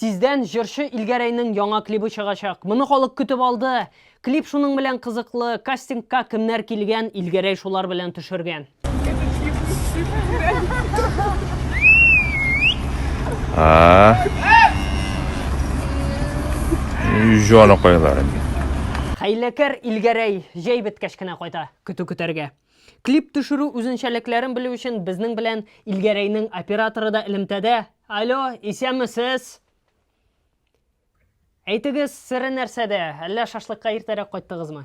Тиздән җырчы Илгәрәйнең яңа клибы чыгачак. Моны халык көтеп алды. Клип шуның белән кызыклы, кастингка кемнәр килгән, Илгәрәй шулар белән төшергән. Җаныкайларым. Хәйләкәр Илгәрәй җәй беткәч кенә кайта. Көтү көтәргә. Клип төшерү үзенчәлекләрен белү өчен безнең белән Илгәрәйнең операторы да элемтәдә. Алло, исәнмесез? Әйтегез, сере нәрсәдә? Әллә шашлыкка иртәрәк кайттыгызмы?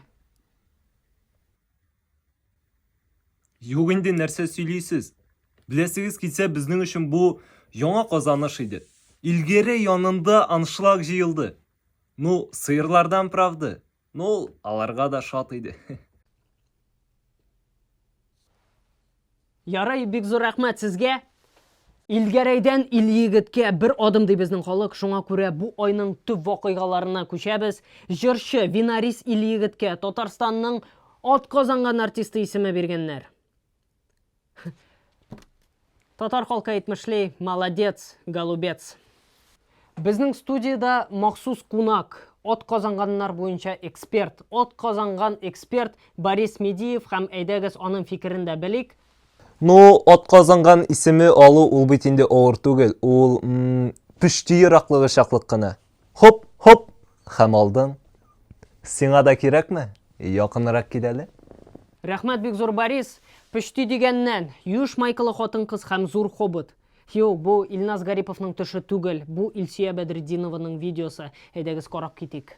Юк инде, нәрсә сөйлисез? Беләсегез килсә, безнең өчен бу яңа казаныш иде. Илгере янында аншлаг җыелды. Ну, сыерлардан правды. Ну, ул аларга да шат иде. Ярый, бик зур рәхмәт сезгә. Илгәрәйдән Ильегеткә бер адым ди безнең халык, шуңа күрә бу айның төп вакыйгаларына күчәбез. Җырчы Винарис Ильегеткә Татарстанның атказанган артисты исеме биргәннәр. Татар халкы әйтмешли, молодец, голубец. Безнең студияда махсус кунак, от казанганнар буенча эксперт, от казанган эксперт Борис Медиев һәм әйдәгез аның фикерен дә белик. Ну, от казанган исеме алу ул бит инде авыр түгел, ул пүчти ераклыгы чаклык кына. Хоп, хоп! Хәм алдың. Сиңа да кирәкме? Якынрак кил әле. Рәхмәт бик зур, Борис! Пөчти дигәннән, юеш майкалы хатын-кыз хәм зур хобот. Юк, бу Илназ Гариповның төше түгел, бу Илсөя Бәдретдинованың видеосы. Әйдәгез карап китик.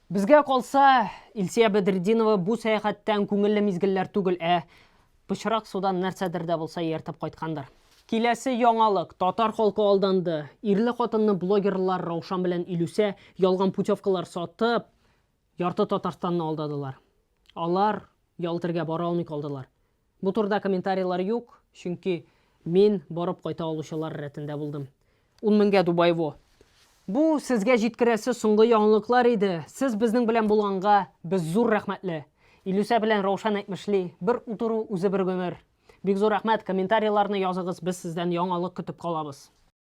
Безгә калса, Илсөя Бәдретдинова бу сәяхәттән күңелле мизгелләр түгел, ә пычрак судан нәрсәдер дә булса ияртеп кайткандыр. Киләсе яңалык, татар халкы алданды. Ирле-хатынлы блогерлар Раушан белән Илүсә ялган путевкалар сатып, ярты Татарстанны алдадылар. Алар Ялтергә бара алмый калдылар. Бу турыда комментарийлар юк, чөнки мин барып кайта алучылар рәтендә булдым. Ун меңгә Дубай во. Бу сезгә җиткерәсе соңгы яңалыклар иде. Сез безнең белән булганга без зур рәхмәтле. Илүсә белән Раушан әйтмешли, бер утыру үзе бер гомер. Бик зур рәхмәт, комментарийларны языгыз, без сездән яңалык көтеп калабыз.